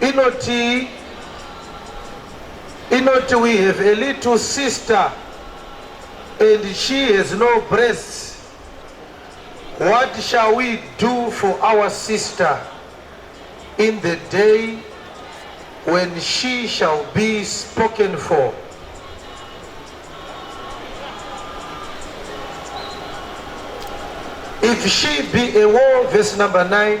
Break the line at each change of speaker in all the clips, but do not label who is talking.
inoti inoti we have a little sister and she has no breasts what shall we do for our sister in the day when she shall be spoken for if she be a war verse number 9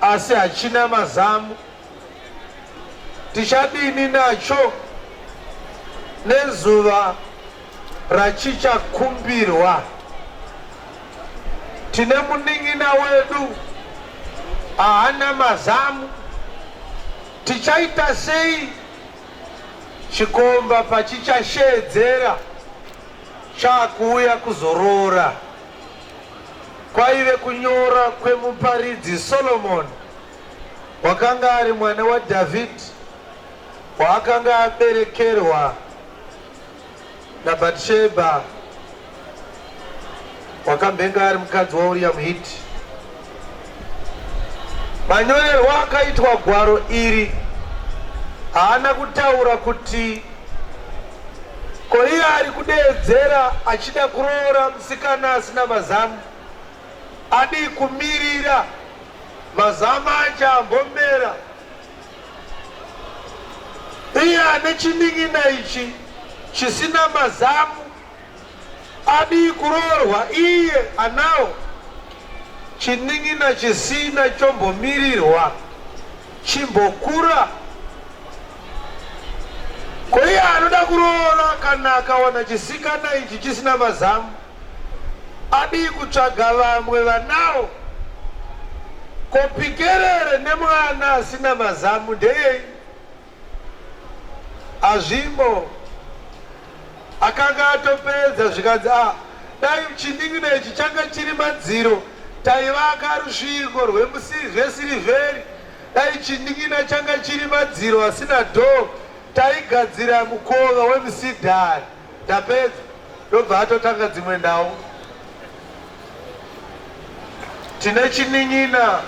asi hachina mazamu. Tichadini nacho nezuva rachichakumbirwa? Tine munin'ina wedu haana mazamu, tichaita sei chikomba pachichasheedzera chaakuuya kuzoroora? kwaive kunyora kwemuparidzi Solomoni, wakanga ari mwana waDhavhidhi waakanga aberekerwa naBhatishebha, wakambenge ari mukadzi waUriya muHiti. Manyorerwa akaitwa gwaro iri haana kutaura kuti ko iye ari kudeedzera achida kuroora musikana asina mazamu adii kumirira mazamu acho ambomera iye ane chinin'ina ichi chisina mazamu Adii kuroorwa iye anawo chinin'ina chisina chombomirirwa chimbokura. Ko iye anoda kuroora kana akawana chisikana ichi chisina mazamu adii kutsvaga vamwe vanawo? Ko pikerere nemwana asina mazamu ndeyei? Azvimbo akanga atopedza zvikanzi a ah, dai chining'ina ichi changa chiri madziro taivaka rusvingo rwesirivheri dai chining'ina changa chiri madziro asina dhoo taigadzira mukova wemusidhari Tapedza ndobva atotanga dzimwe nhau. Tine chinin'ina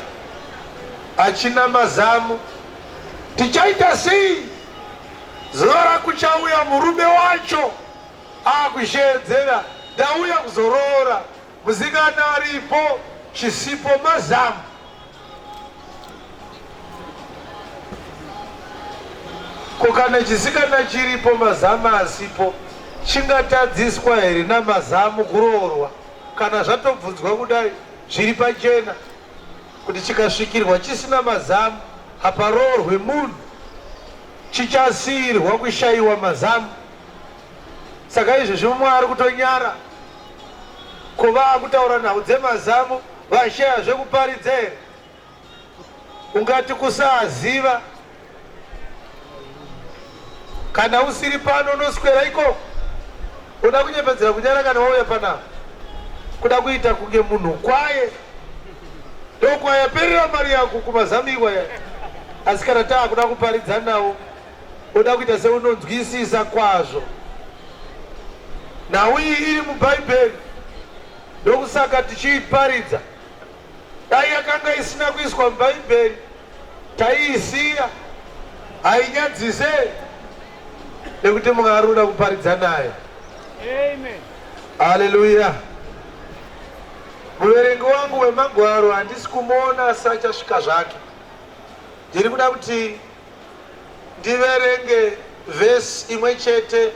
achina mazamu. Tichaita sei? Zuva rakuchauya murume wacho akusheedzera ndauya kuzoroora musikana aripo chisipo mazamu. Ko kana chisikana chiripo mazamu asipo chingatadziswa here namazamu kuroorwa kana zvatobvunzwa kudai zviri pachena kuti chikasvikirwa chisina mazamu haparoorwe munhu chichasiirwa kushayiwa mazamu saka izvezvi mumwe ari kutonyara kuva akutaura nhau dzemazamu vashaya zvekuparidza here ungati kusaziva kana usiri pano unoswera ikoko uda kunyepedzera kunyara kana wauya panapa kuda kuita kunge munhu kwaye ndokwayaperera mari yako kumazamu iwaya asi kana taakuda kuparidza nawo Oda kuita seunonzwisisa kwazvo nhau iyi iri muBhaibheri, ndokusaka tichiiparidza. Dai yakanga isina kuiswa muBhaibheri, taiisiya. Hainyadzise nekuti Mwari unoda kuparidza nayo. Amen. Haleluya. Muverengi wangu wemagwaro handisi kumuona asachasvika zvake. Ndiri kuda kuti Ndiverenge vhesi imwe chete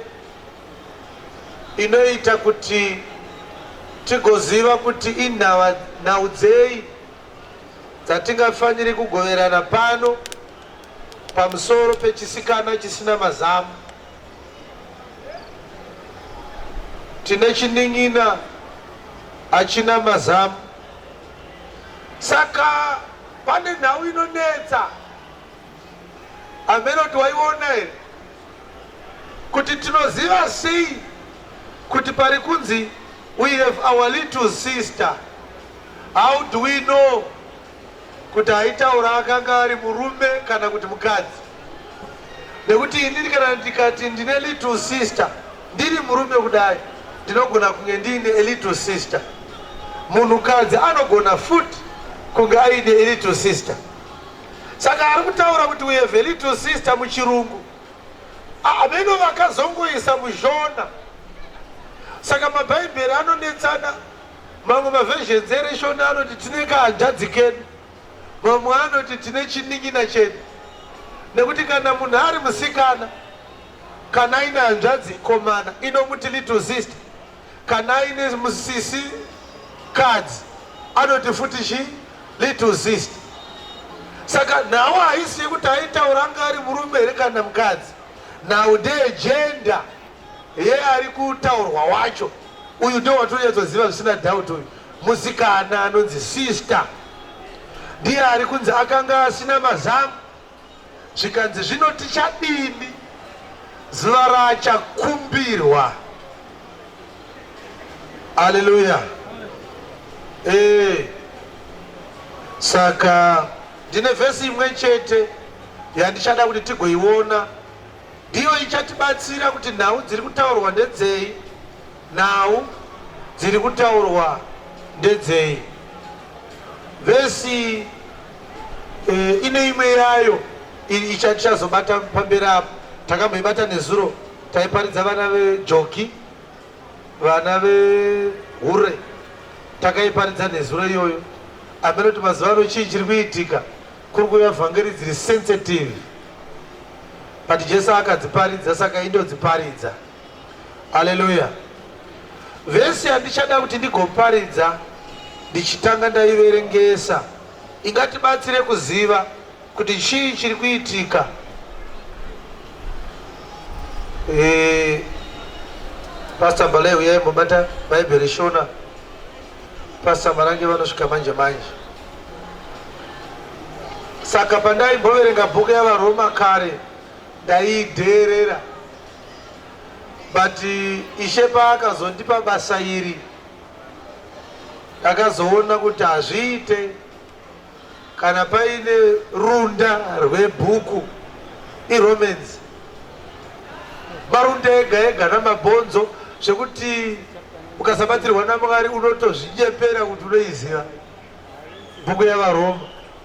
inoita kuti tigoziva kuti inhau dzei dzatingafaniri kugoverana pano pamusoro pechisikana chisina mazamu. Tine chinin'ina achina mazamu, saka pane nhau inonetsa. Amelot waiona here kuti tinoziva sei kuti pari kunzi we have our little sister how do we know kuti aitaura akanga ari murume kana kuti mukadzi nekuti inini kana ndikati ndine little sister ndiri murume kudai ndinogona kunge ndiine a little sister munhukadzi anogona futi kunge aine a little sister Saka ari kutaura kuti we have a little sister muchirungu ameno vakazongoisa mushona saka mabhaibheri anonetsana mamwe maversions ereshona anoti tine kahanzvadzi kedu mamwe anoti tine chinin'ina chedu nekuti kana munhu ari musikana kana aine hanzvadzi ikomana inomuti little sister Kana aine musisi kadzi anoti futi chi little sister. Saka nhau haisi yekuti aitaura anga ari murume here kana mukadzi. Nhau ndeye gender yeari kutaurwa wacho. Uyu ndiwo watonyatsoziva zvisina doubt uyu. Musikana anonzi sister ndiye ari kunzi akanga asina mazamu zvikanzi zvino tichadini zuva raachakumbirwa aleluya ee saka ndine vhesi imwe chete yandichada kuti tigoiona ndiyo ichatibatsira kuti nhau dziri kutaurwa ndedzei nhau dziri kutaurwa ndedzei vhesi Eh, ine imwe yayo ichazobata pamberi apo takamboibata nezuro taiparidza vana vejoki vana vehure takaiparidza nezuro iyoyo amene kuti mazuva ano chii chiri kuitika kuri kuuya vhangeri dziri sensitive but jesu akadziparidza saka indodziparidza Haleluya. Vhesi yandichada kuti ndigoparidza ndichitanga ndaiverengesa ingatibatsire kuziva kuti chii chiri kuitika e, Pastor Bale uyai mubata Bible Shona Pastor Marange vanosvika manje manje saka pandaimboverenga bhuku yavaroma kare ndaidheerera but ishe paakazondipa basa iri ndakazoona kuti hazviite kana paine runda rwebhuku iromance marunda ega ega namabhonzo zvekuti ukasabatsirwa namwari unotozvinyepera kuti unoiziva bhuku yavaroma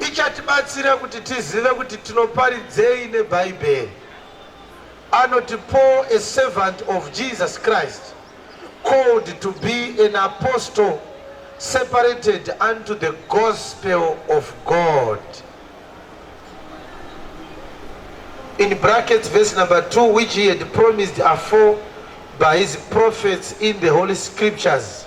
ichatibatsira kuti tizive kuti tinoparidzei nebhaibheri anoti paul a servant of jesus christ called to be an apostle separated unto the gospel of god in brackets verse number 2 which he had promised afore by his prophets in the holy scriptures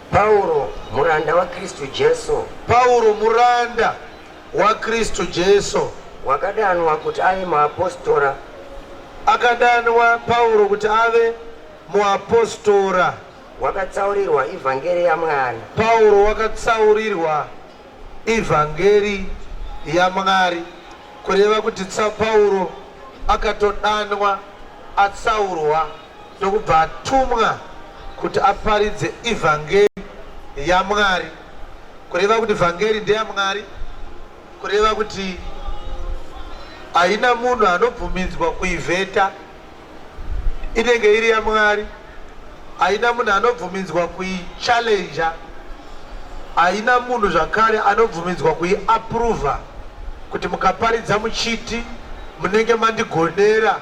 Pauro, muranda waKristu Jesu. Pauro, muranda waKristu Jesu. Wakadanwa kuti ave muapostora. Akadanwa Pauro kuti ave muapostora. Wakatsaurirwa ivhangeri yaMwari. Pauro wakatsaurirwa ivhangeri yaMwari, kureva kuti Pauro akatodanwa atsaurwa. ndokubva atumwa kuti aparidze ivhangeri yaMwari. Kureva kuti vhangeri ndeyaMwari, kureva kuti haina munhu anobvumidzwa kuivheta, inenge iri yaMwari. Haina munhu anobvumidzwa kuichallenja, haina munhu zvakare anobvumidzwa kuiapruvha kuti mukaparidza muchiti munenge mandigonera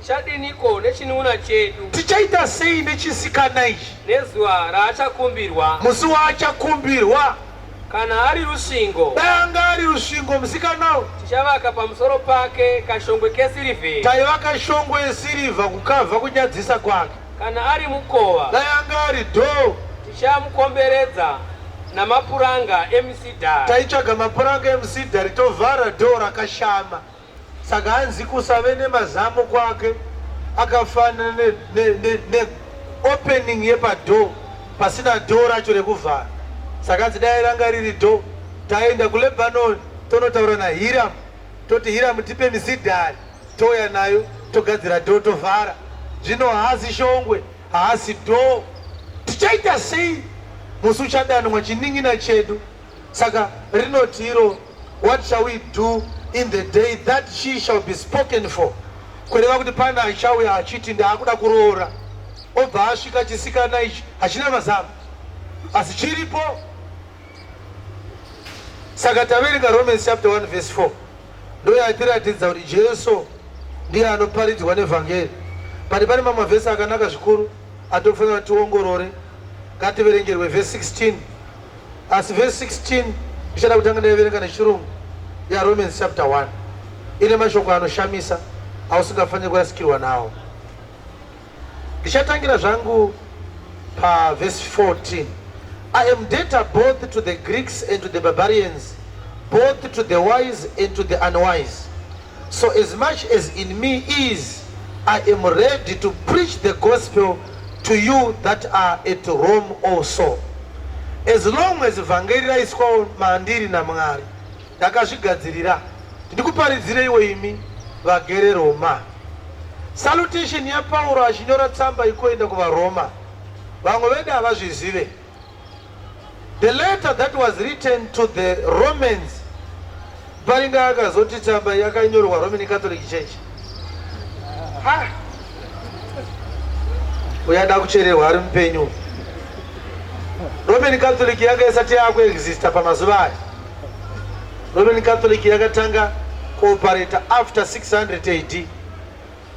Tichadiniko nechinun'una chedu? Tichaita sei nechisikana ichi? Nezuva raachakumbirwa. Musi waachakumbirwa. Kana ari rusvingo. Dai anga ari rusvingo musikana uyu. Tichavaka pamusoro pake kashongwe kesirivheri. Taivaka shongwe yesirivha kukavha kunyadzisa kwake. Kana ari mukova. Dai anga ari dhoo. Tichamukomberedza namapuranga emusidhari. Taitsvaga mapuranga emusidhari tovhara dhoo rakashama. Saka hanzi kusave nemazamu kwake akafanana ne, ne, ne, ne opening yepadoor pasina door racho rekuvhara. Saka hanzi dai ranga riri door taenda kuLebanon tonotaura naHiram toti Hiram tipe misidhari touya nayo togadzira door tovhara. Zvino haasi shongwe haasi door. Tichaita sei musi uchadanwa chinin'ina chedu? Saka rinoti iro What shall we do in the day that she shall be spoken for? Kureva kuti pane achauya achiti ndaakuda kuroora, obva asvika chisikana ichi hachina mazano, asi chiripo. Saka taverenga Romans chapter 1 verse 4 ndoyatiratidza kuti Jesu ndiye anoparidzwa nevhangeri. Pari pane mamwe vhesi akanaka zvikuru atofanira tiongorore. Ngativerengerwe verse 16 Asi verse 16 ndichada kutanga ndaiverenga nechirungu yaRomans chapter 1 ine mashoko anoshamisa ausingafaniri kurasikirwa nawo. Ndichatangira zvangu paverse 14. I am debtor both to the Greeks and to the barbarians, both to the wise and to the unwise. So as much as in me is, I am ready to preach the gospel to you that are at Rome also. As long as vhangeri raiswawo mandiri naMwari, ndakazvigadzirira kuti ndikuparidzire iwe imi vagere Roma. Salutation yaPauro achinyora tsamba ikoenda kuvaRoma. Vamwe vedu havazvizive. The letter that was written to the Romans paringa akazoti tsamba yakanyorwa Roman Catholic Church ha uyada kuchererwa ari mupenyu Roman Catholic yanga isati yakuexista pamazuva aya Roman Catholic yakatanga kuoperate after 600 AD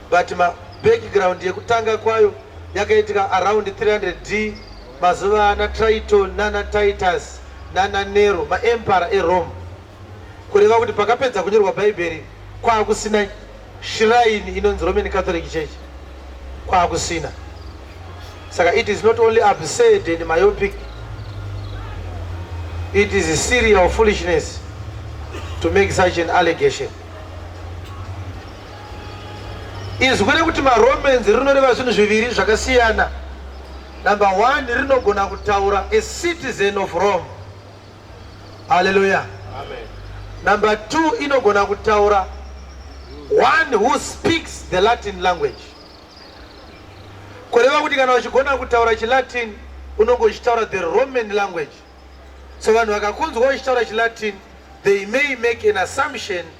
but ma background yekutanga kwayo yakaitika around 300 D mazuva ana Triton nana Titus nana Nero ma emperor e Rome kureva kuti pakapedza kunyorwa bhaibheri kwaakusina shrine inonzi Roman Catholic Church kwaakusina saka it is not only absurd and myopic it is a serial foolishness to make such an allegation Izwi rekuti maromance rinoreva zvinhu zviviri zvakasiyana. Number one, rinogona kutaura a citizen of Rome. Hallelujah. Amen. Number two, inogona kutaura one who speaks the Latin language. Kureva kuti kana uchigona kutaura chiLatin unonge uchitaura the Roman language. So vanhu vakakunzwa uchitaura chiLatin, they may make an assumption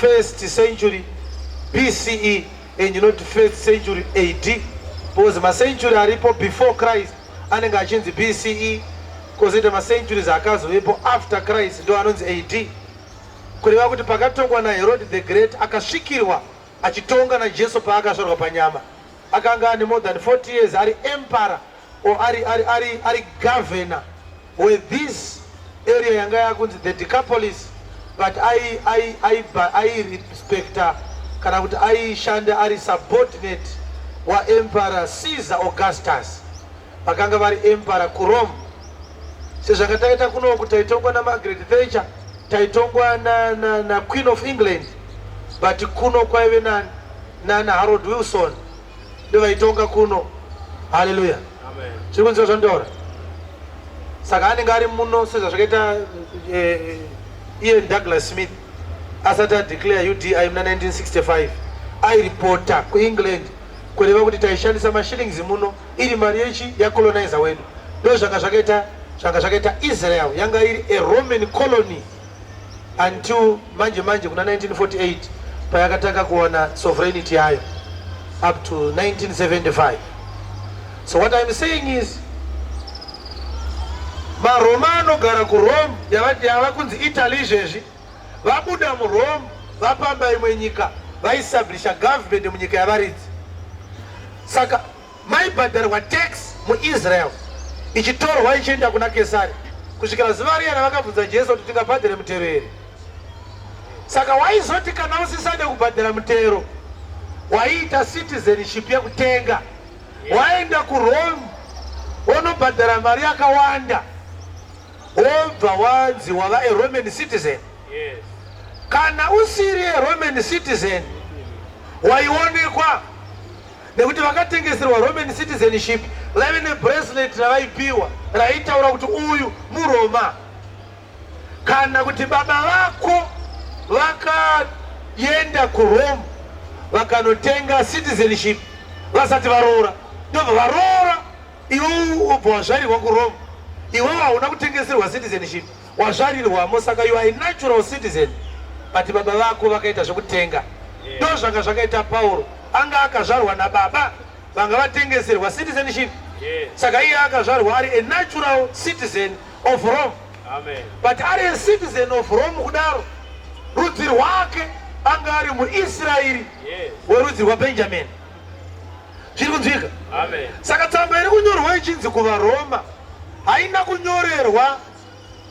first century BCE and not first century AD because macentury aripo before Christ anenge achinzi BCE kozoita macenturies akazovepo after Christ ndo anonzi AD kureva kuti pakatongwa naHerod the Great akasvikirwa achitonga naJesu paakasvorwa panyama akanga ane more than 40 years ari empara or ari, ari, ari, ari governor we this area yanga yakunzi the decapolis but airespecta kana kuti aishanda ari subordinate waemperor caesar augustus vakanga vari emperor kurome sezvakataita kunoku taitongwa namagret thatcher taitongwa naqueen na, na of england but kuno kwaive nani nana harold wilson ndovaitonga kuno haleluya chiri kunziva zvandaura saka anenge ari muno sezvazvakaita eh, eh, iye douglas smith asati adeclare udi muna 1965 airipota kuengland kureva kuti taishandisa mashillings muno iri mari yechi yacolonizer wedu ndo zvanga zvakaita zvanga zvakaita israel yanga iri a roman colony until manje manje kuna 1948 payakatanga kuwana sovereignty yayo up to 1975 so what I'm saying is maroma anogara kurome yava kunzi italy izvezvi vabuda murome vapamba imwe nyika vaistablisha government munyika yavaridzi saka Maibhadharwa tax muIsrael ichitorwa ichienda kuna Kesari kusvikira zuva riya ravakabvunza Jesu kuti tingabhadhare mutero here. Saka waizoti kana usisade kubhadhara mutero waiita citizenship yekutenga waenda kurome wonobhadhara mari yakawanda wobva wanzi wava aroman citizen kana usiri aroman citizen waionekwa nekuti vakatengeserwa Roman citizenship vaive nebracelet ravaipiwa raitaura kuti uyu muRoma. Kana kuti baba vako vakaenda kuRome vakanotenga citizenship vasati varoora, ndobva varoora iwe ubva wazvarirwa kuRome, iwewo hauna kutengeserwa citizenship. Wazvarirwamo saka you are a natural citizen but baba vako vakaita zvekutenga ndo zvanga zvakaita Pauro anga akazvarwa nababa vanga vatengeserwa citizenship saka iye akazvarwa ari a natural citizen of Rome Amen. but ari a citizen of Rome kudaro rudzi rwake anga ari muIsraeri werudzi rwaBenjamin zviri kunzwika saka tsamba iri kunyorwa ichinzi kuvaroma haina kunyorerwa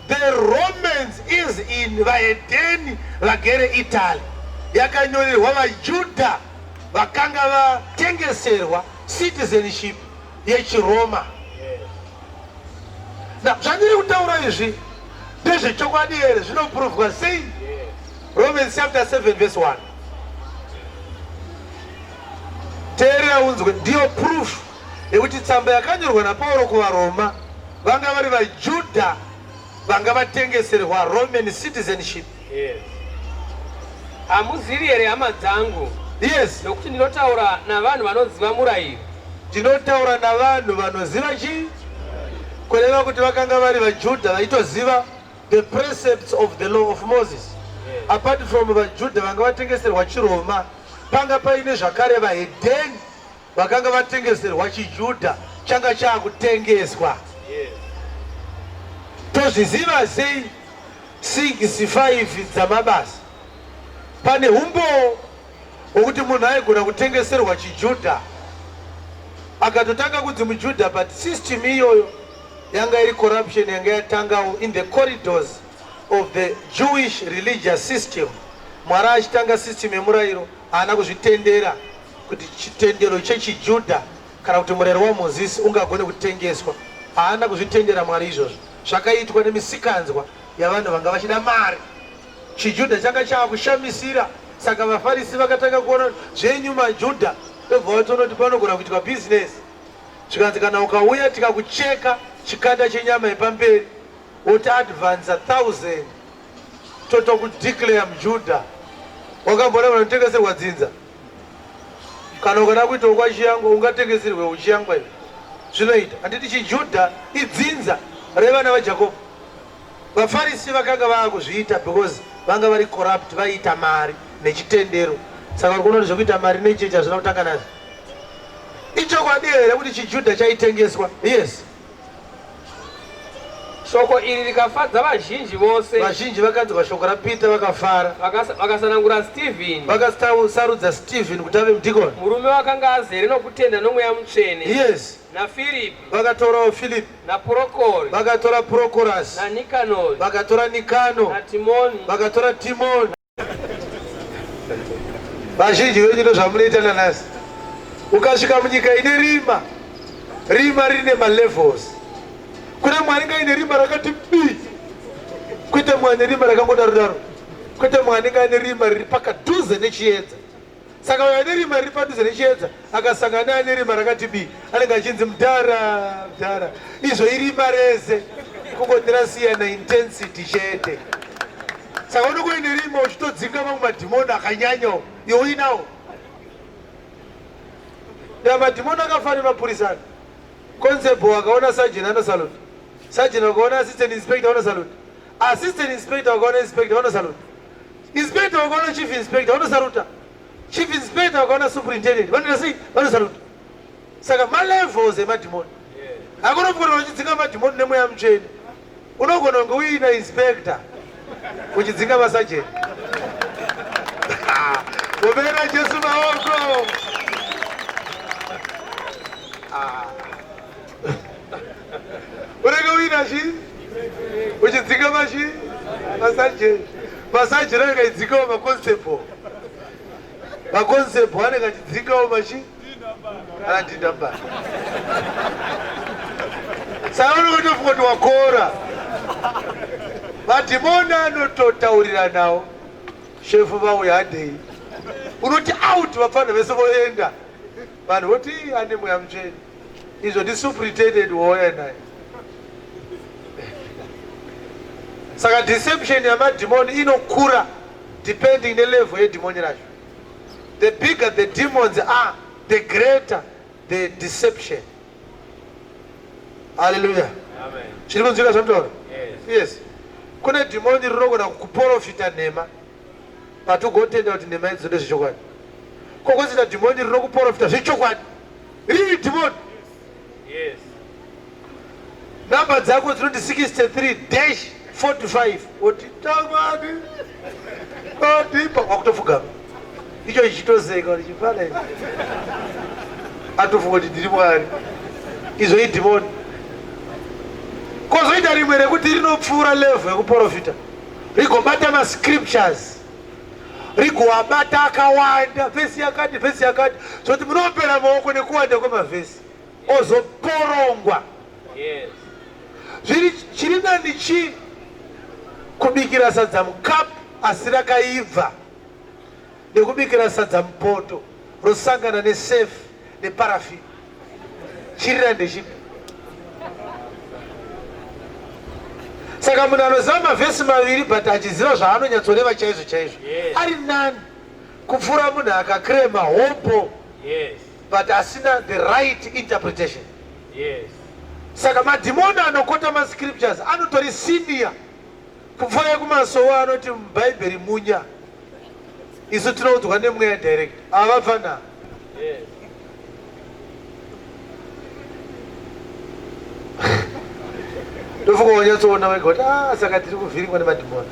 The Romans is in vahedheni vagere Italy yakanyorerwa vaJudha vakanga vatengeserwa citizenship yechiRoma. Na zvandiri kutaura izvi ndezvechokwadi here zvinoprovwa sei? Romans chapter 7 verse 1. Teerera unzwe ndiyo proof nekuti tsamba yakanyorwa naPauro kuvaRoma vanga vari vaJudha vanga vatengeserwa Roman citizenship. Yes. Hamuzivi here hama dzangu? Yes. Nokuti ndinotaura navanhu vanoziva murayiro. Ndinotaura navanhu vanoziva chii? Kureva kuti vakanga vari vaJudha vaitoziva the precepts of the law of Moses. Yes. Apart from vaJudha vanga vatengeserwa chiRoma, panga paine zvakare vahedheni Vakanga vatengeserwa chiJuda changa chaakutengeswa. Tozviziva sei 65 dzamabasa? Pane humbowo hwokuti munhu aigona kutengeserwa chiJuda akatotanga kunzi muJuda, but system iyoyo yanga iri corruption yanga yatangawo in the corridors of the Jewish religious system. Mwari achitanga system yemurayiro haana kuzvitendera. kuti chitendero chechiJudha kana kuti murero waMozisi ungagone kutengeswa. Haana kuzvitendera Mwari izvozvo. Zvakaitwa nemisikanzwa yavanhu vanga vachida mari. ChiJudha changa chava kushamisira, saka vaFarisi vakatanga kuona zvenyu maJudha ndobva vatoona kuti panogona kuitwa bhizinesi. Zvikanzi kana ukauya tikakucheka chikanda chenyama yepamberi woti advansa thousand totokudeclare muJudha. Wakamboona vanotengeserwa dzinza Kana ukada kuita wokwaChiyangwa ungatengeserwe uChiyangwa iwe. Zvinoita. Handiti chiJudha idzinza revana vaJakobo? VaFarisi vakanga vava kuzviita because vanga vari corrupt vaiita mari nechitendero. Saka vari kuona kuti zvekuita mari nechechi hazvina kutanga nazvo. Ichokwadi here kuti chiJudha chaitengeswa? Yes. Shoko iri rikafadza vazhinji vose. Vazhinji vakanzwa shoko raPeter vakafara. Vakas- Vakasanangura Stephen, Vakasarudza Stephen kuti ave mudhikoni. murume wakanga azere nokutenda nomweya mutsvene, Yes. naFiripi, Vakatorawo Philip, naPurokori, vakatora Prochorus, naNikanori, vakatora Nikano, naTimoni, vakatora Timon, vazhinji venyu ndozvamunoita nanasi ukasvika munyika ine rima rima rine malevels kuna mwari ngaine rima rakati bi kwete mwane rima rakangodaro daro kwete mwane ngaine rima riri pakadhuze nechiedza Saka uyo ane rima riri padhuze nechiedza akasangana neane rima rakati bii anenge achinzi mdhara mdhara. Izvo irima rese kungoti rasiyana intensity chete. Saka unenge uine rima uchitodzinga mamwe madhimoni akanyanyawo iwe uinawo. Ya madhimoni akafanira mapurisa ano. Constable akaona sergeant ano salute. Sergeant akaona assistant inspector ano salute. Assistant inspector akaona inspector ano salute. Inspector wakaona chief inspector vanosaruta. Chief inspector wakaona superintendent vanoita sei? Vanosaruta. Saka ma levels emadhimoni. Hakuna kugona uchidzinga madhimoni nemweya mutsvene. Unogona kunge uina inspector uchidzinga masajeni. Kubera Jesu maoko. Ah. unenge uina chi uchidzika machi masajeni masajeni anenge achidzikawo maconstable maconstable anenge achidzikawo machi anadindambara saka unenge utofunga kuti wakora madhimoni anototauriranawo shefu vauya adei unoti out vapfanha vese voenda Vanhu voti ane mweya mutsvene. Izvo ndi superintendent wouya naye. Saka deception yamadhimoni inokura depending nelevel yedhimoni racho. The bigger the demons are, the greater the deception. Hallelujah. Chiri kunzwika zvamutaura? Yes. Kune dhimoni rinogona kukuporofita nhema. but ugotenda kuti nhema idzo ndezvechokwadi ko kwazita dhimoni rinokuporofita zvechokwadi riri dhimoni yes number dzako dzinoti 63 dash 45 oti tamani odipa wakutofugama icho chichitozeka kuti chifana ichi atofunga kuti ndiri mwari izvo idhimoni kozoita rimwe rekuti rinopfuura levhu yekuporofita rigobata mascriptures rigoabata akawanda vhesi yakati vhesi yakati zvokuti munopera maoko nekuwanda kwemavhesi ozoporongwa zviri chiri nani chii kubikira sadza mukapu asi rakaibva nekubikira sadza mupoto rosangana nesafe neparafin chirira ndechipi saka munhu anoziva mavhesi maviri but achiziva zvaanonyatsoreva chaizvo chaizvo ari nani kupfuura munhu akakrema hopo but asina the right interpretation saka madhimoni anokota mascriptures anotori senior Kupfuura kumasowe anoti mubhaibheri munya. Isu tinoudzwa nemweya direct. Avapfana. Ndofunga wanyatsoona wega kuti ah saka tiri kuvhiringwa nemadhimoni.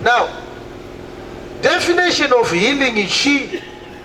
Now, definition of healing is she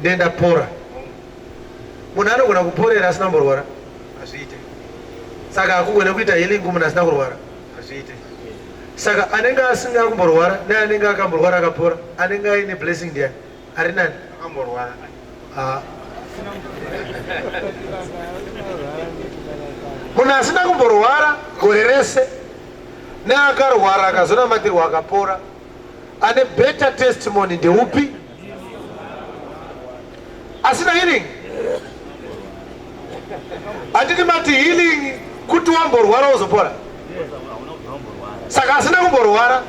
ndiye ndapora munhu anogona kuporera asina kumborwara hazviite saka akugona kuita healing munhu asina kurwara hazviite saka anenge asina kumborwara ne anenge akamborwara akapora anenge aine blessing ndiya ari nani akamborwara ah. munhu asina kumborwara gore rese neakarwara akazonamatirwa akapora Ane better testimony ndeupi? Asina healing? Anditi mati healing kuti wamborwara wozopora? Saka asina kumborwara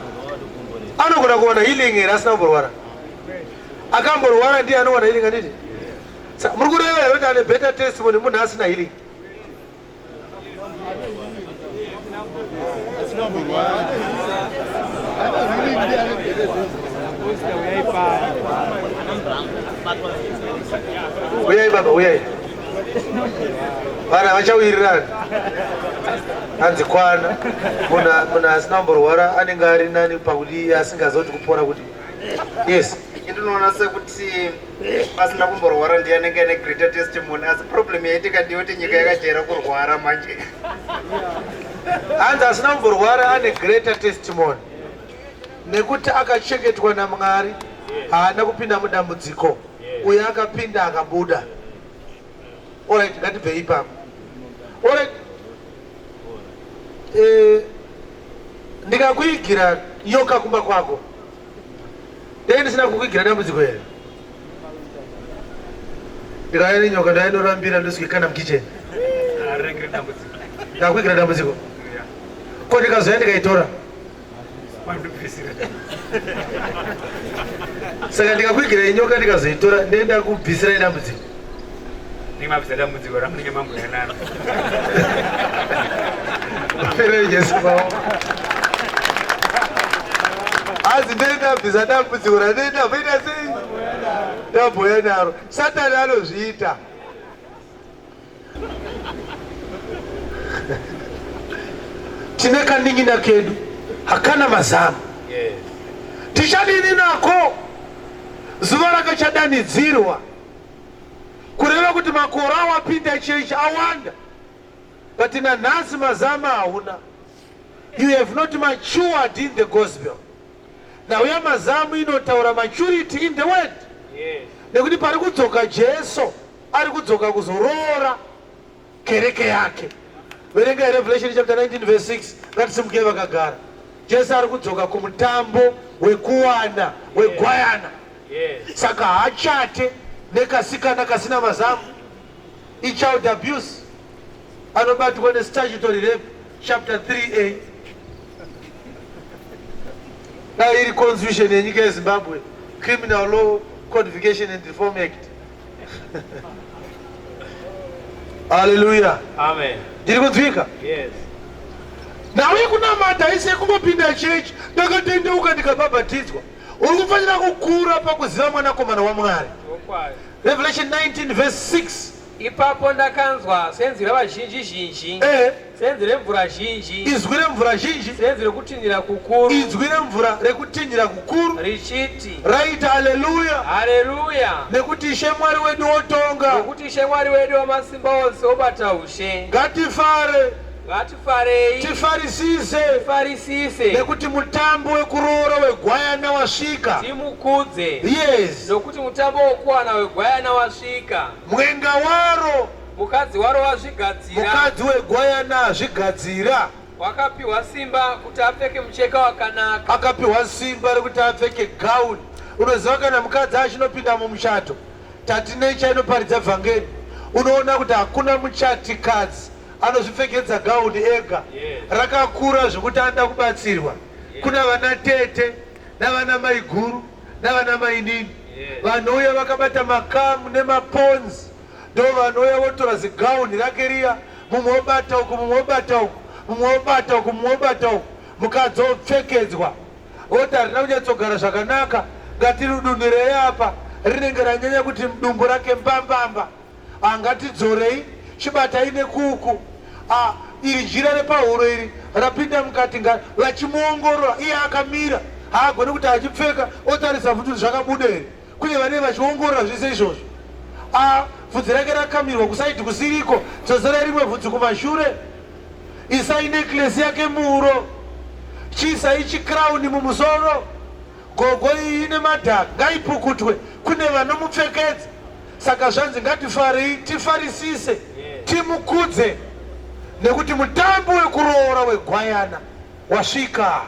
anogona kuwana healing here asina kumborwara? Akamborwara ndiye anowana healing anditi? Muri kureva here kuti ane better testimony munhu asina healing? Uyai baba, uyai. Vana vachawirirana. Hanzi kwana. Muna muna asina kumborwara anenge ari nani pakuti asingazoti kupora kuti. Yes. Ndinoona sekuti pasina kumborwara ndiye anenge ane greater testimony asi problem yaitika ndiyoti nyika yakajaira kurwara manje hanzi asina kumborwara ane greater testimony nekuti akachengetwa namwari haana kupinda mudambudziko uye akapinda akabuda orit ngatibvei ipapo orit eh, ndikakuigira yoka kumba kwako Dai ndisina kukuigira dambudziko here? Ndikauya nenyoka ndainorambira ndosvika kana mukitchen. Arengere dambudziko. Ndakuigira dambudziko. Yeah. Ko ndikazouya ndikaitora. Mandibvisira. Saka ndikakuigira inyoka ndikazoitora ndenda kubvisira dambudziko. Ndinge mabvisa dambudziko ramunenge mambouya naro. Pere Jesu baba. Hanzi ndendabvisa dambudziko randenda voita sei? Ndabhuya naro. Satani anozviita. tine kanin'ina kedu hakana mazamu tichadini nako zuva rakachadanidzirwa kureva kuti makore awapinda chechi awanda but nanhasi mazama hauna you have not matured in the gospel nhau yamazamu inotaura maturity in the word yes. nekuti pari kudzoka jesu ari kudzoka kuzoroora kereke yake verengai revelation chapter 19 verse 6 ngatisimukei vakagara jesu ari kudzoka kumutambo wekuwana wegwayana yes. saka hachate nekasikana kasina mazamu ichild abuse anobatwa nestatutory rape chapter 3a dai iri constitution yenyika yezimbabwe criminal law codification and reform act haleluya amen ndiri kunzwika yes nhau yekunamata haisi yekungopinda chechi ndakatendeuka ndikabhabhatidzwa uri kufanira kukura pakuziva mwanakomana wamwari revelation 19 vese 6 Ipapo ndakanzwa senzi revazhinji zhinji, eh. senzi remvura zhinji, izwi remvura zhinji, senzi rekutinhira kukuru, izwi remvura rekutinhira kukuru, richiti, raita haleluya, haleluya, nekuti Ishe Mwari wedu wotonga, nekuti Ishe Mwari wedu wamasimba ose obata ushe. Ngatifare. Ngati Farei, tifarisise, tifarisise, nekuti mutambo wekuroora wegwayana wasvika. Timukudze, yes, nokuti mutambo wokuwana wegwayana wasvika. Mwenga waro, mukadzi waro wazvigadzira, mukadzi wegwayana azvigadzira. Wakapiwa simba kuti apfeke mucheka wakanaka, akapiwa simba rekuti apfeke gauni. Unoziva kana mukadzi achinopinda mumuchato, tatinecha inoparidza vhangeri, unoona kuti hakuna muchatikadzi anozvipfekedza gauni ega rakakura zvekuti anoda kubatsirwa kuna vana tete navana maiguru navana mainini vanouya vakabata makamu nemaponzi ndo vanouya votora zigauni rake riya mumwe obata uku mumwe obata uku mumwe obata uku mumwe obata uku mukadzi opfekedzwa voti harina kunyatsogara zvakanaka ngatirudunhirei apa rinenge ranyanya kuti mdumbu rake mbambamba Ah, ngatidzorei chibatai nekuku. Ah, iri jira repahuro iri rapinda mukati nga vachimuongorora iye akamira haagone kuti achipfeka otarisa futi kuti zvakabuda here kunye vanei vachiongorora zvese izvozvo a vhudzi rake rakamirwa kusaidi kusiriko dzodzera rimwe vhudzi kumashure isai necklesi yake muuro chiisai chikrauni mumusoro gogo iyi ine madhaka ngaipukutwe kune vanomupfekedza Saka zvanzi ngatifarei, tifarisise, timukudze nekuti mutambo wekuroora wegwayana wasvika.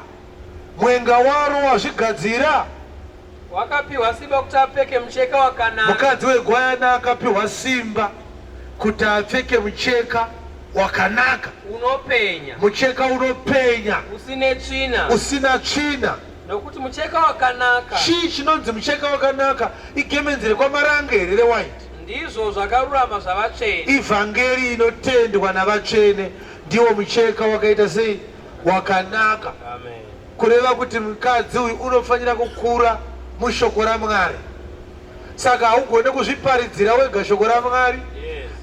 Mwenga waro wazvigadzira. Wakapiwa simba kuti apfeke mucheka wakanaka. Mukadzi wegwayana akapiwa simba kuti apfeke mucheka wakanaka. Unopenya. Mucheka unopenya. Usine tsvina. Usina tsvina. Nokuti mucheka wakanaka. Chii chinonzi mucheka wakanaka? Igemenzi rekwamaranga here rewaiti? Ndizvo zvakarurama zvavatsvene. Ivhangeri inotendwa navatsvene ndiwo mucheka wakaita sei? Wakanaka. Amen. Kureva kuti mukadzi uyu unofanira kukura mushoko raMwari. Saka haugone kuzviparidzira wega shoko raMwari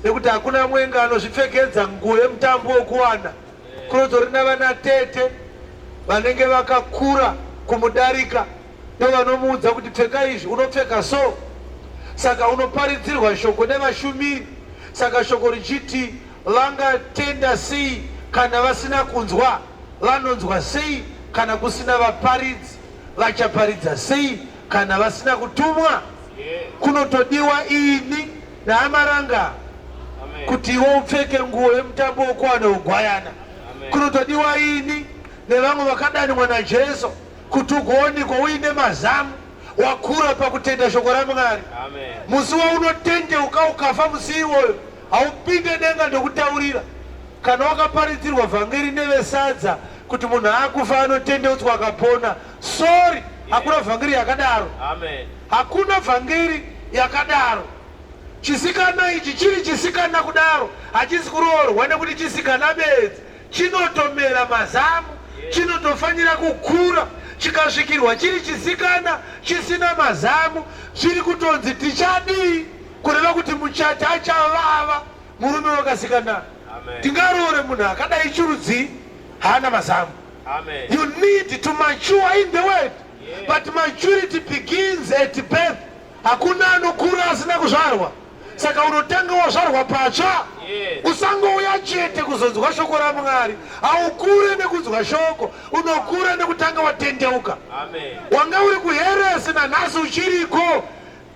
nekuti hakuna mwenga anozvipfekedza nguo yemutambo wokuwana. kunotori navana tete vanenge vakakura kumudarika ndovanomuudza kuti pfeka izvi unopfeka so saka unoparidzirwa shoko nevashumiri saka shoko richiti vangatenda sei kana vasina kunzwa vanonzwa sei kana kusina vaparidzi vachaparidza sei kana vasina kutumwa kunotodiwa ini naAmaranga kuti iwe upfeke nguo yemutambo wokuwa neugwayana kunotodiwa ini nevamwe vakadanwa naJesu kuti ugoonikwa uine mazamu wakura pakutenda shoko raMwari. Musi waunotendeuka ukafa musi iwoyo haupinde denga ndokutaurira kana wakaparidzirwa vhangeri nevesadza kuti munhu akufa anotendeutswa akapona Sorry, hakuna vhangeri yakadaro. Amen. Hakuna vhangeri yakadaro. Chisikana ichi chiri chisikana kudaro hachisi kuroorwa nekuti chisikana bedzi chinotomera mazamu chinotofanira kukura chikasvikirwa chiri chisikana chisina mazamu chiri kutonzi tichadii kureva kuti muchati achavava murume wakasikana tingaroore munhu akadai chirudzii haana mazamu Amen. You need to mature in the word. Yeah. But maturity begins at birth. Hakuna anokura asina kuzvarwa. Saka unotanga wazvarwa patsva. Yeah. Usangouya chete kuzonzwa shoko raMwari. Haukure nekunzwa shoko, unokura nekutanga watendeuka. Amen. Wanga uri kuheresi nanhasi uchiriko.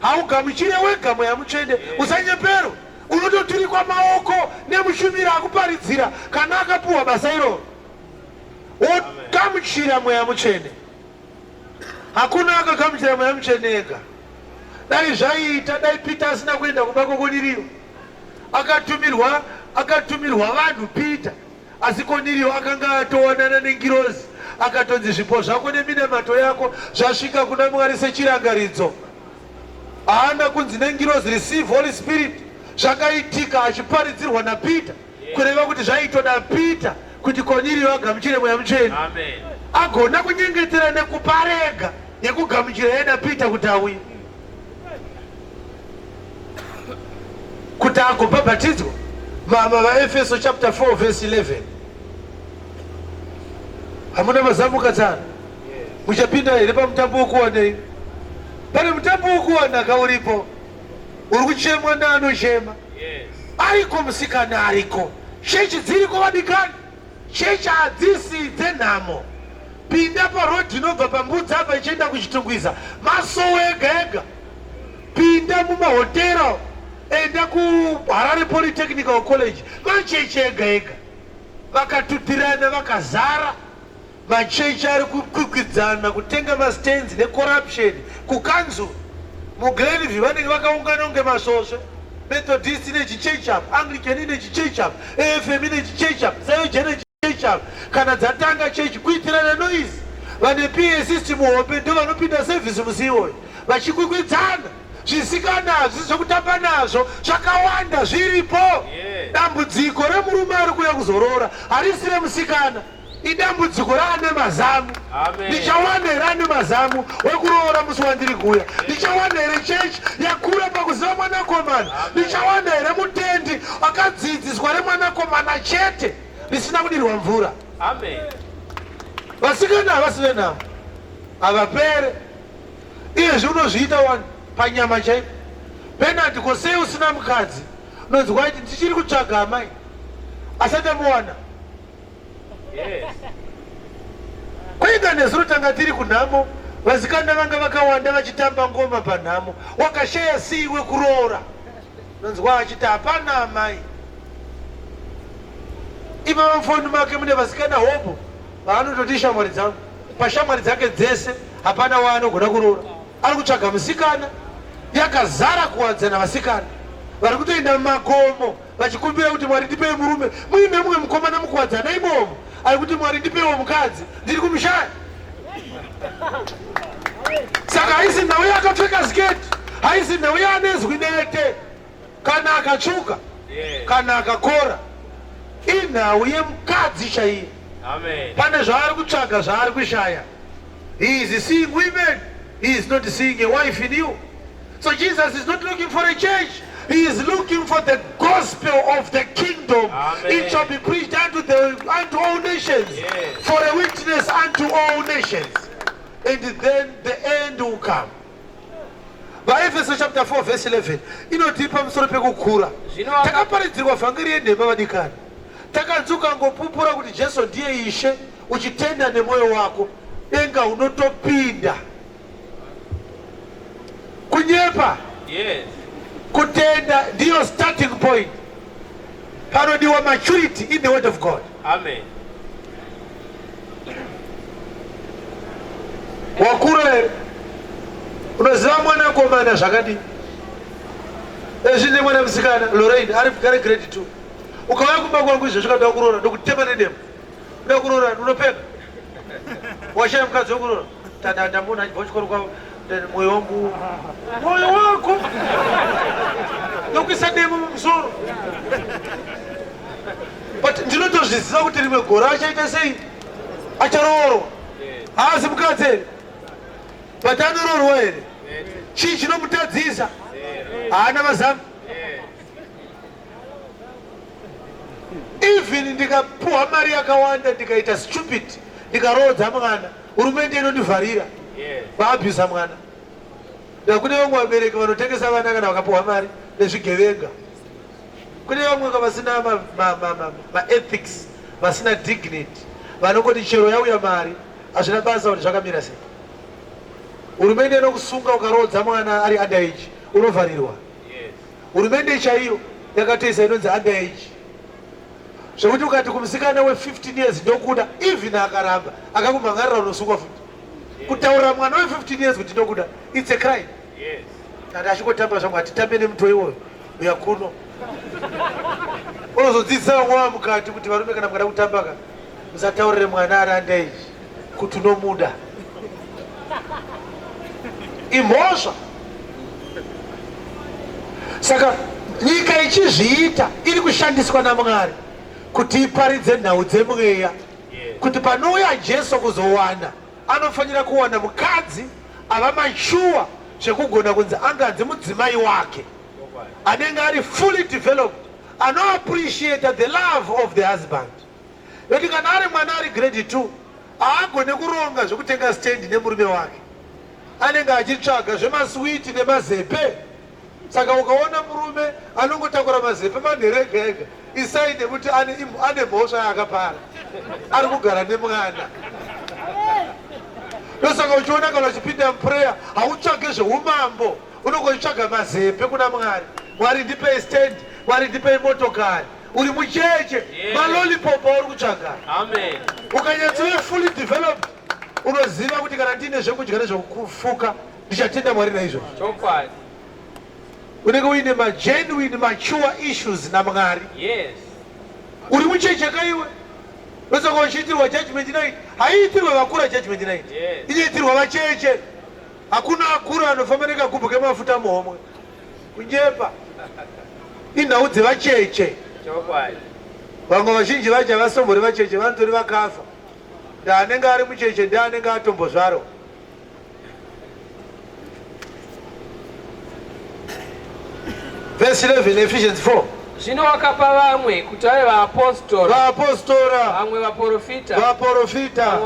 Haugamuchire wega mweya mutsvene, usanyeperwe. Unototurikwa maoko nemushumiri akuparidzira kana akapuhwa basa iroro, wogamuchira mweya mutsvene. Hakuna akagamuchira mweya mutsvene ega. Dai zvaiita, dai Pita asina kuenda kumba kwokoniriyo, akatumirwa akatumirwa vanhu Pita Asi Koniriyo akanga atowanana nengirozi, akatonzi zvipo zvako neminamato yako zvasvika kuna Mwari sechirangaridzo. Haana kunzi nengirozi receive Holy Spirit zvakaitika achiparidzirwa naPita, kureva kuti zvaitoda Pita kuti Koniriyo agamuchire mweya mutsvene, agona kunyengetera nekuparega yekugamuchira yada Pita kuti auye. kuti agobhabhatidzwa mama vaefeso chapter 4 verse 11 hamuna mazamuka tsana muchapinda here pamutambo wokuwanei pane mutambo wokuwanaka uripo uri kuchemwa neanochema ariko musikana ariko shechi dziriko vadikani Chechi hadzisi dzenhamo. Pinda paroad inobva pambudzi apa ichienda kuchitungwiza masowe ega ega. Pinda mumahotera enda kuharare polytechnical college machechi ega ega vakatutirana vakazara Machechi ari kukwikwidzana kutenga mastands necorruption kukanzuru. MuGlenview vanenge vakaungana kunge masvosve. Methodist ine chichechi apa, Anglican ine chichechi apa, AFM ine chichechi apa, Zioja ine chichechi apa. Kana dzatanga chechi kuitirana noise. Vane PA system hombe ndo vanopinda service musi iwoyo vachikwikwidzana zvisikana hazvisi zvekutamba nazvo zvakawanda zviripo. Dambudziko remurume ari kuuya kuzoroora harisi remusikana. idambudziko raane mazamu ndichawana here ane mazamu wekuroora musi wandiri kuuya ndichawana here chechi yakura pakuziva mwanakomana ndichawana here mutendi akadzidziswa remwanakomana chete risina kudirwa mvura vasikana havasi venhamo havapere iyezvi unozviita wani panyama chaipo penati ko sei usina mukadzi unonzwa kuti ndichiri kutsvaga amai asati amuwana Kwainga nezuro tanga tiri kunhamo, vasikana vanga vakawanda vachitamba ngoma panhamo. Wakashaya sii wekuroora? Nonzwa achiti hapana amai. Ivava mufoni make mune vasikana hobho vaanototi shamwari dzangu. Pashamwari dzake dzese hapana waanogona kuroora. Ari kutsvaga musikana yakazara kuwadzana vasikana vari kutoenda mumakomo vachikumbira kuti Mwari ndipei murume muine mumwe mukomana mukuwadzana imomo ari kuti Mwari ndipeiwo mukadzi ndiri kumushaya saka haisi nhau yakapfeka sketi haisi nhau yaanezwi nete kana akatsvuka kana akakora inhau yemukadzi chaiye pane zvaari kutsvaga zvaari kushaya he is seeing women he is not seeing a wife in you So Jesus is not looking for a church. He is looking for the gospel of the kingdom. Amen. It shall be preached unto the unto all nations yes. for a witness unto all nations. And then the end will come. vaefeso chapter 4 verse 11 inotii pamusoro pekukura takaparidzirwa vhangeri yenhema vadikani takanzi ukangopupura kuti jesu ndiye ishe uchitenda nemwoyo wako denga unotopinda kunyepa yes. kutenda ndiyo starting point panodiwa maturity in the word of god amen wakura here unoziva mwana akomana zvakadii ezvine mwana musikana lorain ari kugare grade two ukauya kumba kwangu izvezvi kada kuroora ndokutema nedemo uda kuroora unopeka washaya mukadzi wekurora Tadada munhu achibva kuchikoro kwavo mwoyo wangu mwoyo wako nokuisa demo mumusoro but ndinotozviziva kuti rimwe gora achaita sei acharoorwa haasi mukadzi here but anoroorwa here chii chinomutadzisa haana vazamu even ndikapuwa mari yakawanda ndikaita stupid ndikaroodza mwana hurumende inondivharira vaabusa mwana ndakune vamwe vabereki vanotengesa vana kana vakapuwa mari nezvigevenga kune vamwe vasina maethics vasina dignity vanongoti chero yauya mari hazvina basa kuti zvakamira sei hurumende inokusunga ukaroodza mwana ari underage unovharirwa Hurumende chaiyo yakatoisa inonzi under age zvekuti ukati kumusikana we 15 years ndokuda even akaramba akakumhangarira unosungwa futi kutaurira mwana we 15 years kuti ndokuda it's a crime kana achingotamba zvamwe hatitambe nemutoi iwoyo uya kuno unozodzidzisa vamwe vamukati kuti varume kana mukada kutambaka musataurire mwana ari under age kuti unomuda imhosva saka nyika ichizviita iri kushandiswa namwari kuti iparidze nhau dzemweya kuti panouya jesu kuzowana anofanira kuwana mukadzi ava machuwa zvekugona kunzi anganzi mudzimai wake anenge ari fully developed anoappreciata the love of the husband Nekuti kana ari mwana ari grade 2 haagone kuronga zvekutenga stand nemurume wake. Anenge achitsvaga zvemaswiti nemazepe. Saka ukaona murume anongotakura mazepe manhere ega ega isai nekuti ane mhosva yaakapara. Ari kugara nemwana. Ndosaka uchiona kana uchipinda muprayer hautsvage zveumambo unongoitsvaga mazepe kuna Mwari. Mwari ndipei stand, Mwari ndipei motokari. uri mucheche yeah. malolipop auri kutsvaga ukanyatsove fully developed unoziva kuti kana ndiine zvekudya nezvekufuka ndichatenda mwari naizvozvo unenge uine magenuine mature issues namwari yes. uri mucheche kaiwe ndosaka uchiitirwa judgment night haiitirwe vakura judgment night yes. inoitirwa vacheche hakuna akura anofamba nekagubhu kemafuta muhomwe kunyepa inhau dzevacheche vamwe vazhinji vacho havasombori vacheche vanotori vakafa ndaanenge ari mucheche ndianenge atombozvaro vhesi 11 efficiency 4 zvino wakapa vamwe kuti vave vaapostora vaapostora vamwe vaprofita vaprofita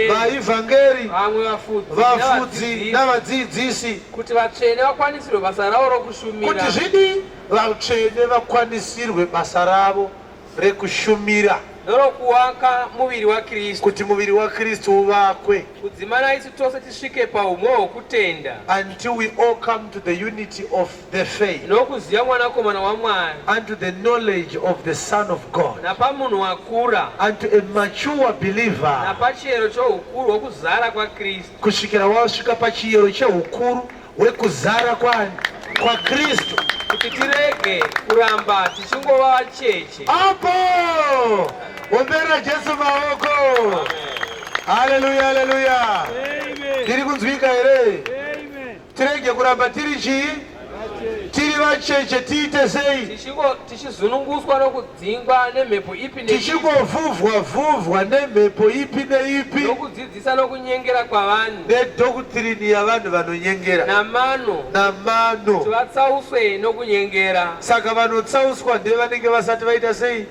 vaivhangeri vamwe vafudzi navadzidzisi Kuti vatsvene vakwanisirwe basa ravo rokushumira. Kuti zvidii? Vatsvene vakwanisirwe basa ravo rekushumira. Ndorokuwaka muviri waKristu. Kuti muviri waKristu uvakwe. Kudzimana isu tose tisvike paumwe hwokutenda. Until we all come to the unity of the faith. Nokuziva Mwanakomana waMwari. Unto the knowledge of the Son of God. Napamunhu wakura. Unto a mature believer. Napachiyero choukuru hwokuzara kwaKristu. kusvikira wasvika pachiyero cheukuru hwekuzara kwani kwaKristu, kuti tirege kuramba tichingova vacheche. Apo ombera Jesu maoko. Haleluya, haleluya. Ndiri kunzwika here? Tirege kuramba tiri chii? Tiri vacheche tiite sei? Tichizununguswa nokudzingwa nemhepo ipi neipi. Tichingovhuvhwa vhuvhwa nemhepo ipi neipi. Nokudzidzisa nokunyengera kwavanhu. Nedhokuturini yavanhu vanonyengera. Namano. Namano. Kuti vatsauswe nokunyengera. Saka vanotsauswa ndevanenge vasati vaita sei?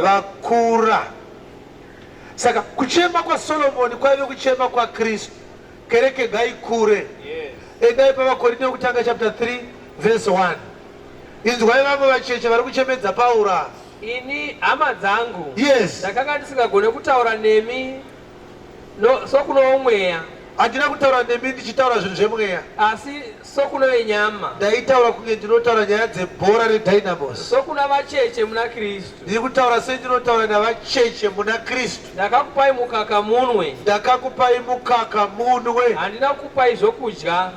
Vakura. Saka kuchema kwaSolomoni kwaive kuchema kwaKristu. Kereke ngaikure. Endai pavaKorinte wekutanga chapter 3 verse 1. Inzwai vamwe vacheche vari kuchemedza Paura. Ini hama dzangu. Yes. Ndakanga ndisingagone kutaura nemi no, sokuno mweya. Handina kutaura nemi ndichitaura zvinhu zvemweya. Asi Sokuna venyama. Ndaitaura kunge ndinotaura nyaya dzebhora reDynamos. Sokuna vacheche muna Kristu. Ndiri kutaura sendinotaura navacheche muna Kristu. Ndakakupai mukaka munwe. Ndakakupai mukaka munwe. Handina kukupai zvokudya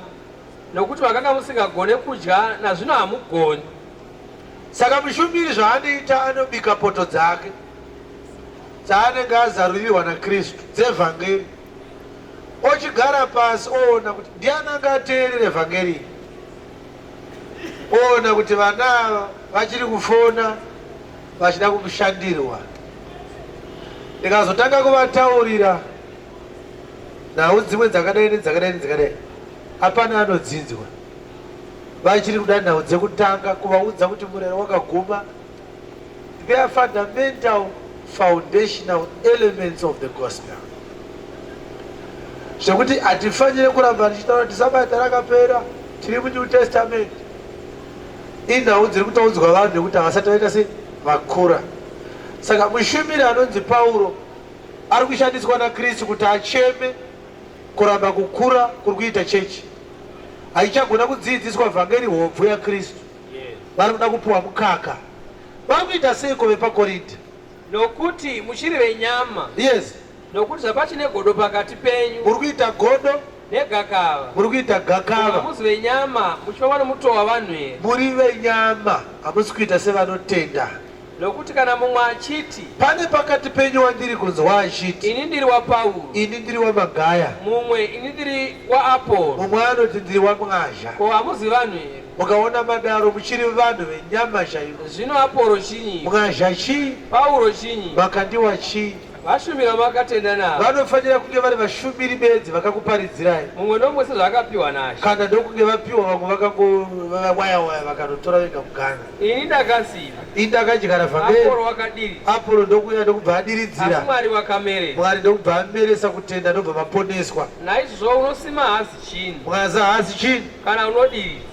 nokuti makanga musingagone kudya nazvino hamugoni. Saka mushumiri zvaanoita anobika poto dzake dzaanenge azarurirwa naKristu dzevhangeri. ochigara pasi oona kuti ndiani anga ateerere vhangeri oona kuti vana ava vachiri kufona vachida kushandirwa ndikazotanga kuvataurira nhau dzimwe dzakadai nedzakadai nedzakadai hapana anodzinzwa vachiri kuda nhau dzekutanga kuvaudza kuti murero wakaguma They are fundamental foundational elements of the gospel zvekuti hatifanire kuramba tichitaura kuti sabata rakapera tiri munew testament inhau dziri kutaudzwa vanhu nekuti havasati vaita se vakura saka mushumiri anonzi pauro ari kushandiswa nakristu kuti acheme kuramba kukura kuri kuita chechi haichagona kudziidziswa vhangeri hobvu yakristu vari kuda kupiwa mukaka vari kuita seiko vepakorinde nokuti muchiri venyama yes nokuti zvapachine godo pakati penyu muri kuita godo negakava muri kuita gakava hamusi venyama muchiva vanomutova vanhu here muri venyama hamusi kuita sevanotenda Nokuti kana mumwe achiti. Pane pakati penyu wandiri kunzwa achiti. Ini ndiri waPauro. Ini ndiri waMagaya. Mumwe, Ini ndiri waAporo. Mumwe anoti, Ndiri waMwazha. Ko hamuzi vanhu here? Mukaona madaro muchiri vanhu venyama chaivo. Zvino Aporo chinyi? Mwazha chii? Pauro chinyi? Makandiwa chii? Vashumiri vamakatenda navo. Vanofanira kunge vari vashumiri bedzi vakakuparidzirai. Mumwe nomwe sezvaakapiwa naShe. Kana ndokunge vapiwa vamwe vakangowaya waya vakanotora vega muganhu. Ini ndakasiva. Ini ndakadyara vhangeri. Apolo wakadiri. Apolo ndokuuya ndokubva adiridzira. Asi Mwari wakamere. Mwari ndokubva ameresa kutenda ndobva maponeswa. Naizvozvo unosima haasi chinhu. Mwaza haasi chinhu. Kana unodiridza.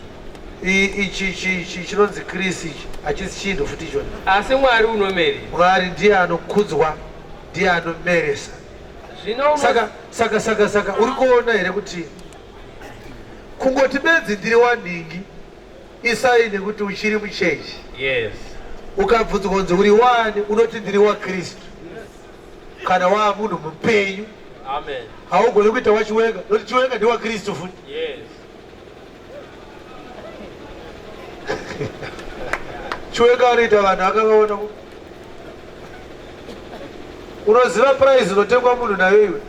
ichi ichi chinonzi Chris ichi hachisi chinhu futi ichona. Asi Mwari unomeri. Mwari ndiye anokudzwa, ndiye anomeresa. Zvino saka saka saka saka uri kuona here kuti kungoti bedzi ndiri wanhingi isai nekuti uchiri muchechi. Yes. Ukabvunzwa kunzi uri wani unoti ndiri waKristu. Kana waa munhu mupenyu. Amen. Haugoni kuita wachiwenga, noti chiwenga ndiwa Kristu futi. Yes. Chiwenga anoita vanhu akavaona ku unoziva prize unotengwa munhu nayo iwe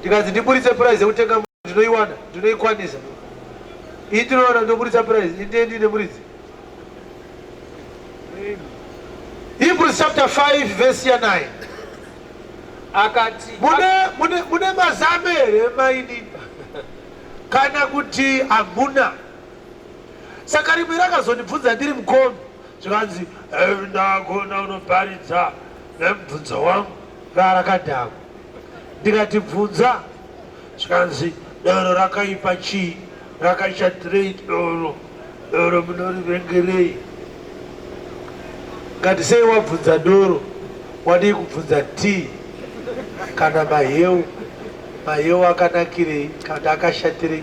ndikanzi ndiburitse prize yekutenga munhu ndinoiwana ndinoikwanisa ii ndinoona ndoburitsa prize indendi nemuridzi hebrews chapter 5 verse ya 9 akati mune mazame here mainini kana kuti hamuna saka rimwe rakazondibvunza ndiri mukombi zvikanzi eh, ndagona unoparidza nemubvunzo wangu rarakadhakwa ndikati bvunza zvikanzi doro rakaipa chii rakaita trade doro Doro munorivengerei? Ngati sei wabvunza doro wadii kubvunza tii kana maheu maheu akanakirei kana akashatirei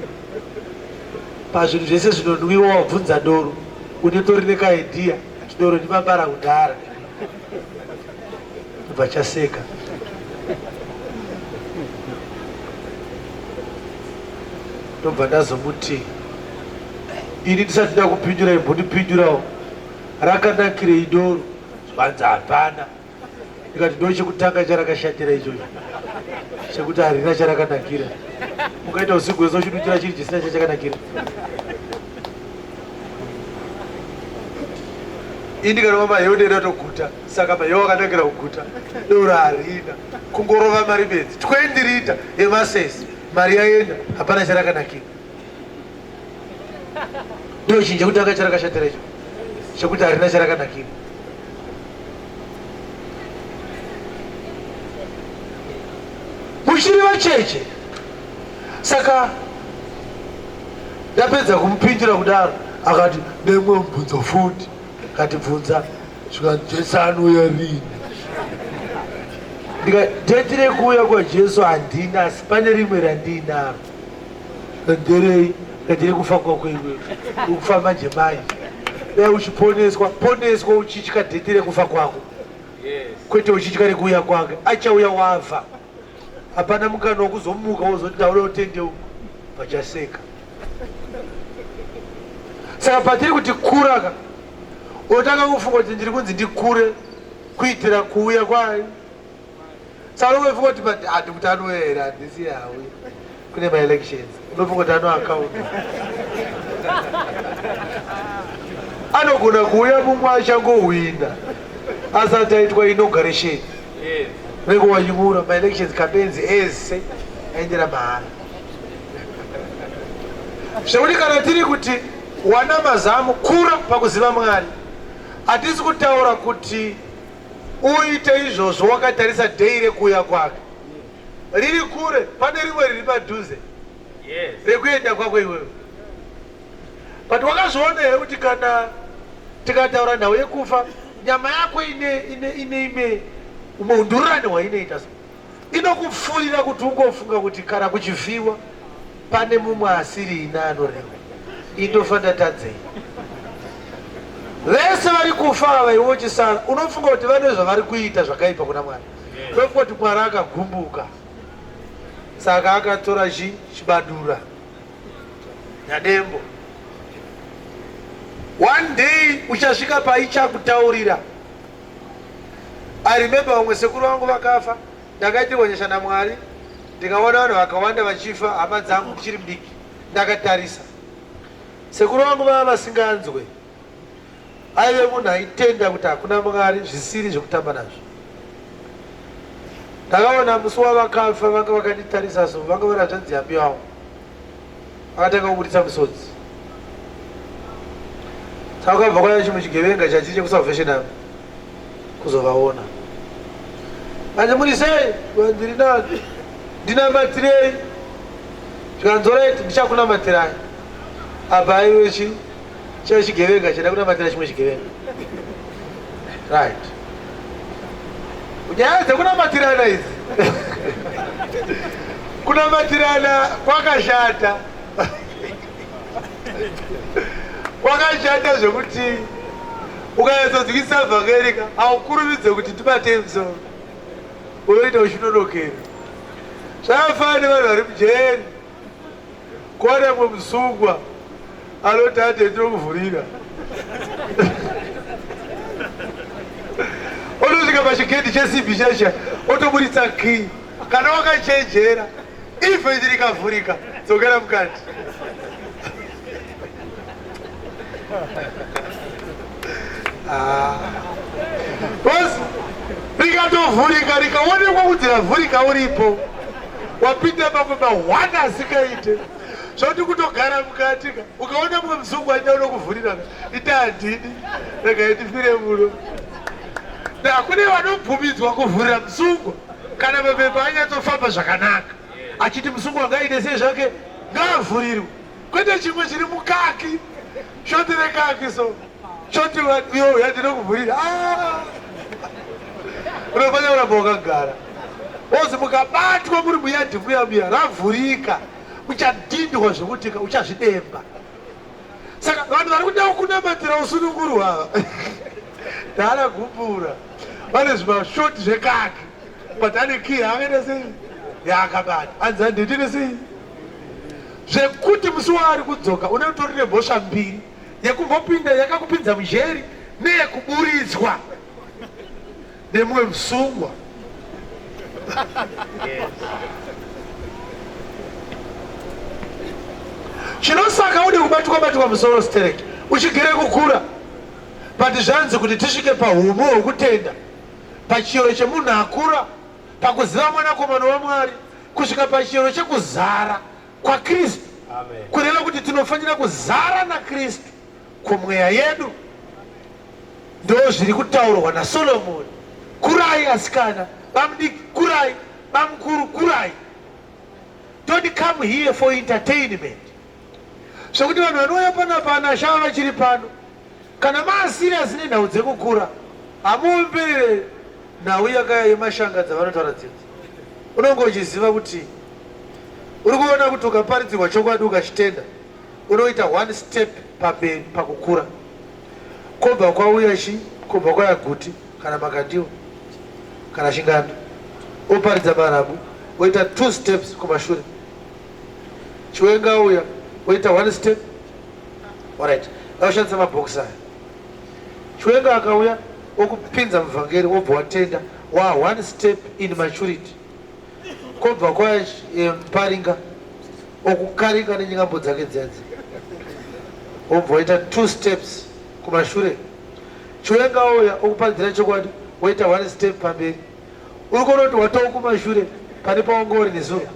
pazvinhu zvese zvinonwiwa wabvunza doro unetori nekaidhiya kuti doro ndimabara kudhara vachaseka ndobva ndazomuti ini ndisati ndakupinjura imbondipinjurawo rakanakirei doro zvanzi hapana ndikati ndo chekutanga charakashatira ichocho chekuti harina charakanakira ukaita usiku hwese uchidutira chiri chisina chachakanakira ini ndikanoma maheundi atoguta saka manya wakanakira kuguta doro harina kungorova mari bedzi 20 rita yemasesi mari yaenda hapana charakanakira ndochinji chekuti anga charakashatira icho chekuti harina charakanakira muchiri vacheche saka ndapedza kumupindira kudaro akati nemwe mubvunzo futi katibvunza Shuwa Jesu anouya rini? Ndika date rekuuya kwaJesu handina asi pane rimwe randiinaro. Nderei? Date rekufa kwako iwewe. Ukufa manje manje. Dai uchiponeswa, poneswa uchitya date rekufa kwako. Kwete uchitya rekuuya kwake. Achauya wava. Hapana mukana wekuzomuka wozoti ndauda kutendeu pachaseka. Saka patiri kuti kura ka otanga kufunga kuti ndiri kunzi ndikure kuitira kuuya kwayo. Saka unofunga kuti but handi kuti anouya here handisi yauya. kune maelections unofunga kuti anoakaunda anogona kuuya mumwe achangohwina asati aitwa inauguration vengo wanyumura maelections campaigns ese aendera mahara zvekuti kana tiri kuti wana mazamu kura pakuziva mwari hatisi kutaura kuti uite izvozvo wakatarisa dhei rekuuya kwake riri kure pane rimwe riri padhuze rekuenda kwako iwewe but wakazviona here kuti kana tikataura nhau yekufa nyama yako ine ine ine ime umwe undururani hwainoita so inokupfuurira kuti ungofunga kuti kana kuchivhiwa pane mumwe asiri ina anorema indofa ndatadzei vese vari kufa ava iwe uchisara unofunga kuti vane zvavari kuita zvakaipa kuna mwari kwekungoti mwari akagumbuka saka akatora chi chibadura nyadembo one day uchasvika paichakutaurira i remember vamwe sekuru vangu vakafa ndakaitirwa nyasha namwari ndikaona vanhu vakawanda vachifa hama dzangu ndichiri mdiki ndakatarisa sekuru vangu vava vasinganzwe aive munhu aitenda kuti hakuna mwari zvisiri zvekutamba nazvo ndakaona musi wavakafa vanga vakanditarisa so vanga vari hanzvanzi yambi yavo vakatanga kuburitsa musodzi saka kwabva kwaya chimwe chigevenga chachii chekusalvation avo kuzovaona manje muri sei vandiri nani ndinamatirei zvikanzoreti ndichakunamatirai abva aive chii Chaive chigevenga chaida kunamatira chimwe chigevenga. Right. Nyaya dzekunamatirana idzi. Kunamatirana kwakashata. Kwakashata zvekuti ukanyatsodzikisa vhangeri ka haukurumidze kuti tibate msoro. Unoita uchinonokera. Zvakafanana nevanhu vari mujeri. Kwane musungwa anoti ate ndinokuvhurira otosvika pachigedhi chesibi chesha otoburitsa kii kana wakachenjera ife ndiri kavhurika dzokera mukati Ah. Boss, rikatovhurika rikaonekwa kuti ravhurika uripo wapinda pamwe mahwana asikaite zvoti kutogara mukati ka ukaona mumwe muzungu aida unokuvhurirana ita handidi rega itifire muno hakune vanobvumidzwa kuvhurira muzungu kana mapepa anyatsofamba zvakanaka achiti muzungu angaite sei zvake ngaavhurirwe kwete chimwe chiri mukaki shoti rekaki so shoti yo yandinokuvhurira ah! unofanira kuramba wakagara ozi mukabatwa muri muyadhi muya muya ravhurika uchadhindwa zvekutika uchazvidemba saka vanhu vari kuda kunamatira usununguru ava dhala gumbura vane zvimashoti zvekaki but ane kii haakaita sei yaakabata anzi handitiri sei zvekuti musi waari kudzoka une utori nemhosva mbiri yekumbopinda yakakupinza mujeri neyekuburitswa nemumwe musungwa chinosaka ude kubatwa batwa musoro stereki uchigere kukura but zvanzi kuti tisvike pahumu hwekutenda pachiyero chemunhu akura pakuziva Mwanakomana waMwari kusvika pachiyero chekuzara kwaKristu, kureva kuti tinofanira kuzara naKristu kumweya yedu. Ndozviri kutaurwa naSolomoni, kurai asikana, bamudiki kurai, bamukuru kurai. Don't come here for entertainment. zvekuti vanhu vanouya pana pana shava vachiri pano kana maasiriasi nenhau dzekukura hamuomberere nhau yakaya yemashanga dzavanotaura dzidzi unonge uchiziva kuti uri kuona kuti ukaparidzirwa chokwadi ukachitenda unoita one step pamberi pakukura kobva kwauya chi kobva kwaya guti kana makandiwa kana chingando oparidza marabu oita two steps kumashure Chiwenga uya woita one step. Alright. Ngaushandise mabhokisi aya. Chiwenga akauya okupinza muvhangeri wobva watenda wa one step in maturity. Kobva kwa eh, paringa okukarika nenyingambo dzake dzedzi. Wobva waita two steps kumashure. Chiwenga uya okuparidzira chokwadi woita one step pamberi. uri kunoti watawo kumashure pane pawanga uri nezuro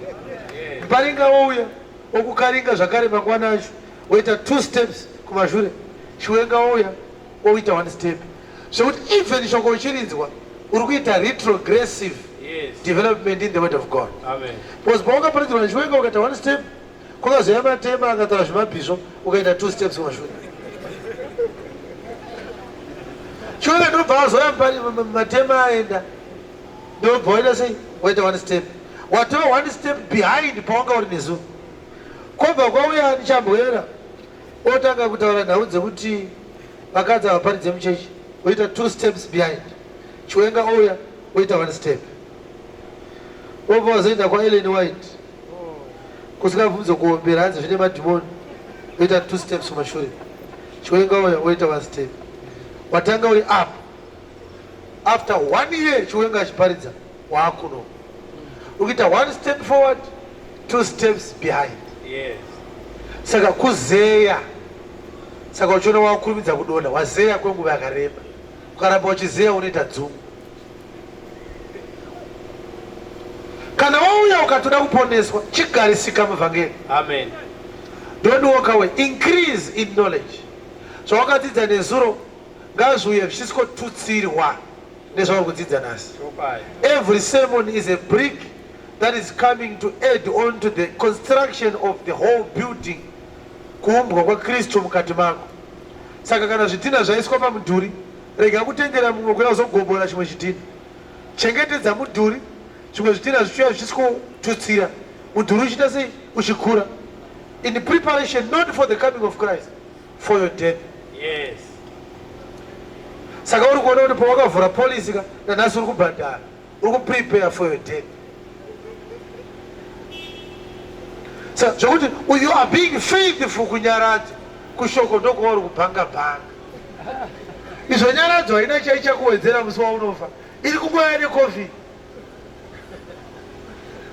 muparinga wouya wokukaringa zvakare mangwana acho woita two steps kumashure chiwenga wouya woita one step zvekuti even shoko uchirinzwa uri kuita retrogressive yes. development in the word of god Amen. because paungaparidzirwa nechiwenga ukaita one step Kwakazouya matema akataura zvemabhisvo ukaita two steps kumashure. Chove ndobva azouya matema aenda ndobva waita sei waita one step watova one step behind pawanga uri nezuva kwobva kwauya ani chambwera otanga kutaura nhau dzekuti vakadzi havaparidze muchechi oita two steps behind chiwenga ouya oita one step obva wazoenda kwaelen white kusina bvunzo kuombera hanzi zvine madhimoni oita two steps kumashure chiwenga uya oita one step watanga uri up after one year chiwenga achiparidza waakuno ukiita one step forward two steps behind yes. saka kuzeya saka uchiona wakurumidza kudonha wazeya kwenguva yakareba ukaramba uchizeya unoita dzumu kana wauya ukatoda kuponeswa chigarisika muvhangeri amen don't walk away increase in knowledge zvawakadzidza nezuro ngazviuye zvichisikotutsirwa nezvauri kudzidza nhasi every sermon is a brick that is coming to add on to the construction of the whole building kuumbwa kwakristu mukati mako saka kana zvidhina zvaiswa pamudhuri Rega kutendera mumwe kuuya kuzogombora chimwe chidhina. Chengetedza mudhuri, zvimwe zvidhina zvichiuya zvichikotutsira. Mudhuri uchiita sei? Uchikura. In preparation not for the coming of Christ, for your death. Yes. Saka uri kuona kuti pawakavhura policy ka nanhasi uri kubhadhara. uri kuprepare for your death sa zvekuti you are being faithful kunyaradza kushoko ndokuva uri kubhanga bhanga izvo nyaradzo haina chaichakuwedzera musi waunofa iri kungwaya necovid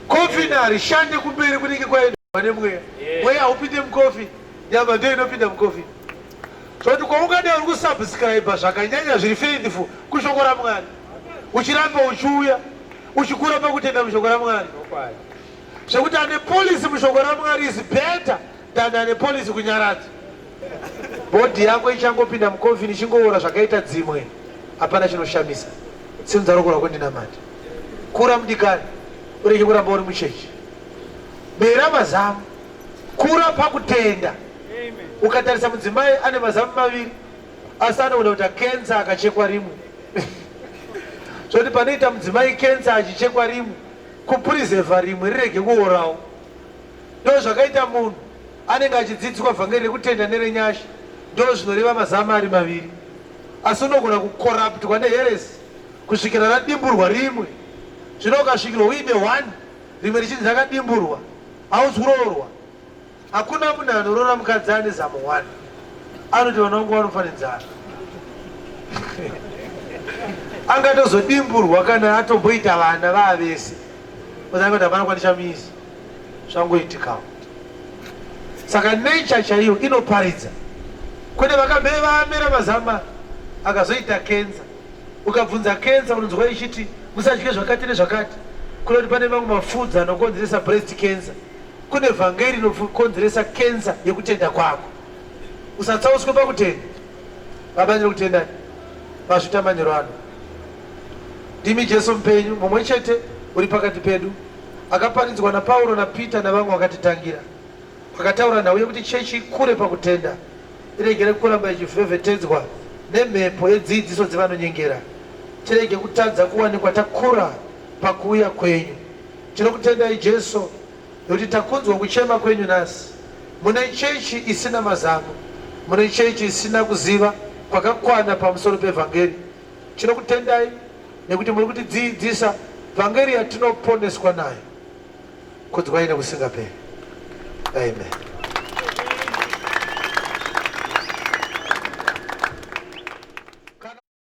covid harishande kumberi kunenge kwaenda vane mweya mweya haupinde mucovid nyama ndiyo inopinda mucovid zvoti kwaungadai uri kusubscribe zvakanyanya zviri faithful kushoko ramwari uchiramba uchiuya uchikura pakutenda mushoko ramwari zvekuti ane polisi mushoko ramwari is better than ane polisi kunyaradza bhodhi yako ichangopinda mukomfini ichingoora zvakaita dzimwe hapana chinoshamisa sinza rokora kwendinamati kura mudikani ureke kuramba uri muchechi bera mazamu kura pakutenda ukatarisa mudzimai ane mazamu maviri asi anogona kuita kensa akachekwa rimu zvoti panoita mudzimai kensa achichekwa rimu kupurizevha rimwe rirege kuorawo ndo zvakaita munhu anenge achidzidziswa vhangeri rekutenda nerenyasha ndo zvinoreva mazama ari maviri asi unogona kukoraptwa neheresi kusvikira radimburwa rimwe zvino ukasvikirwa uine one rimwe richinzi rakadimburwa hausi kuroorwa Hakuna munhu anorora mukadzi ane zamo one anoti vana vangu vanofa nenzara angatozodimburwa kana atomboita vana vaavese ozakuti hapana kwandichamisi zvangoitikawo saka nature chaiyo inoparidza kwete vakamhee vaamera mazama akazoita kenza ukabvunza kenza unonzwa ichiti musadye zvakati nezvakati kuda kuti pane mamwe mafudzi anokonzeresa breast cancer Kune vhangeri inokonzeresa kenza yekutenda kwako. Usatsauswe pakutenda. Baba ndiri kutenda mazvita manyoro ano. Ndimi Jesu mupenyu mumwe chete uri pakati pedu akaparidzwa naPauro naPeter navamwe vakatitangira. Vakataura nhau yekuti chechi ikure pakutenda iregere kuramba ichivhevhetedzwa nemhepo yedzidziso dzevanonyengera. Tirege kutadza kuwanikwa takura pakuuya kwenyu. Tinokutendai Jesu nekuti takunzwa kuchema kwenyu nhasi. Mune chechi isina mazano, mune chechi isina kuziva kwakakwana pamusoro pevhangeri. Tinokutendai nekuti muri kutidziidzisa vhangeri yatinoponeswa nayo. Kudzwai nekusingaperi. Amen.